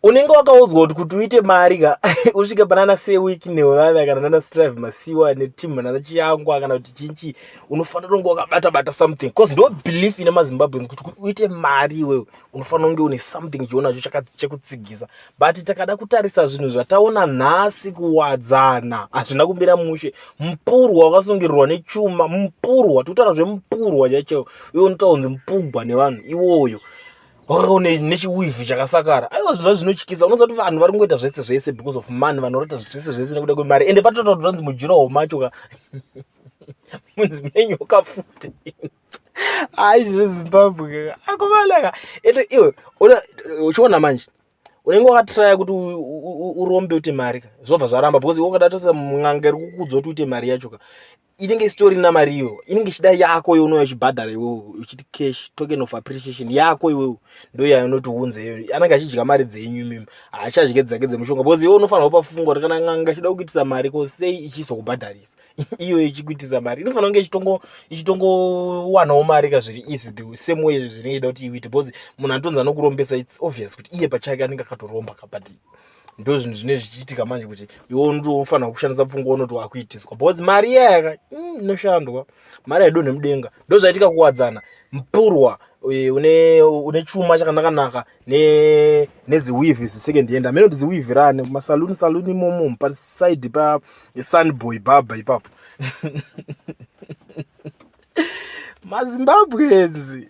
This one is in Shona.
unenge wakaudzwa kuti kuti uite mari ka usvike panana seweek nevaya kana nana strive masiwa netim nana chiyangwa kana kuti chinchi unofanira kunge wakabata bata something bcause ndo belief ine mazimbabweans kuti kuti uite mari iwewe unofanira kunge une something chionacho chekutsigisa but takada kutarisa zvinhu zvataona nhasi kuwadzana hazvina kumira mushe mupurwa wakasungirirwa nechuma mupurwa tikutaura zvemupurwa chaicheo iwe unotaunzi mupugwa nevanhu iwoyo wakakaone nechiwivi chakasakara aiwa zvinhu zvinotyisa unoziva kuti vanhu vari kungoita zvese zvese because of money vanhu vanoita zvese zvese nekuda kwemari ende patotaura kuti vanzi mujuraho macho ka munzi menyoka futi hayi zvino zimbabwe akumalaka ende iwe uchiona manje unenge wakatraya kuti urombe uite mari ka zvobva zvaramba because iwe ukadatarisa mwan'anga iri kukuudza kuti uite mari yacho ka inenge isitori na mari iyo inenge ichida yako yo unouya uchibhadhara iwewe uchiti cash token of appreciation yako iwewe ndo yayo unoti unze iyo anenge achidya mari dzenyu mimi haachadye dzake dzemushonga because iwe unofanira kupa fungo kuti kana n'anga ichida kukuitisa mari ko sei ichizokubhadharisa iyo ichikuitisa mari inofanira kunge ichitongo ichitongowanawo mari ka zviri easy the same way zvinenge ida kuti iwite because munhu anotonzi anokurombesa its obvious kuti iye pachake anenge akatoromba ka but ndo zvinhu zvine zvichiitika manje kuti iwe unotofanira kushandisa pfungwa unoti wakuitiswa because mari iya yaka mm, inoshandwa mari haidonhe mudenga ndo zvaitika kuwadzana mpurwa eh, une une chuma chakanakanaka ne neziwivhi zisecond hand amene kuti ziwivhi rani kumasaluni saluni imomo paside pa sunboy baba ipapo mazimbabwenzi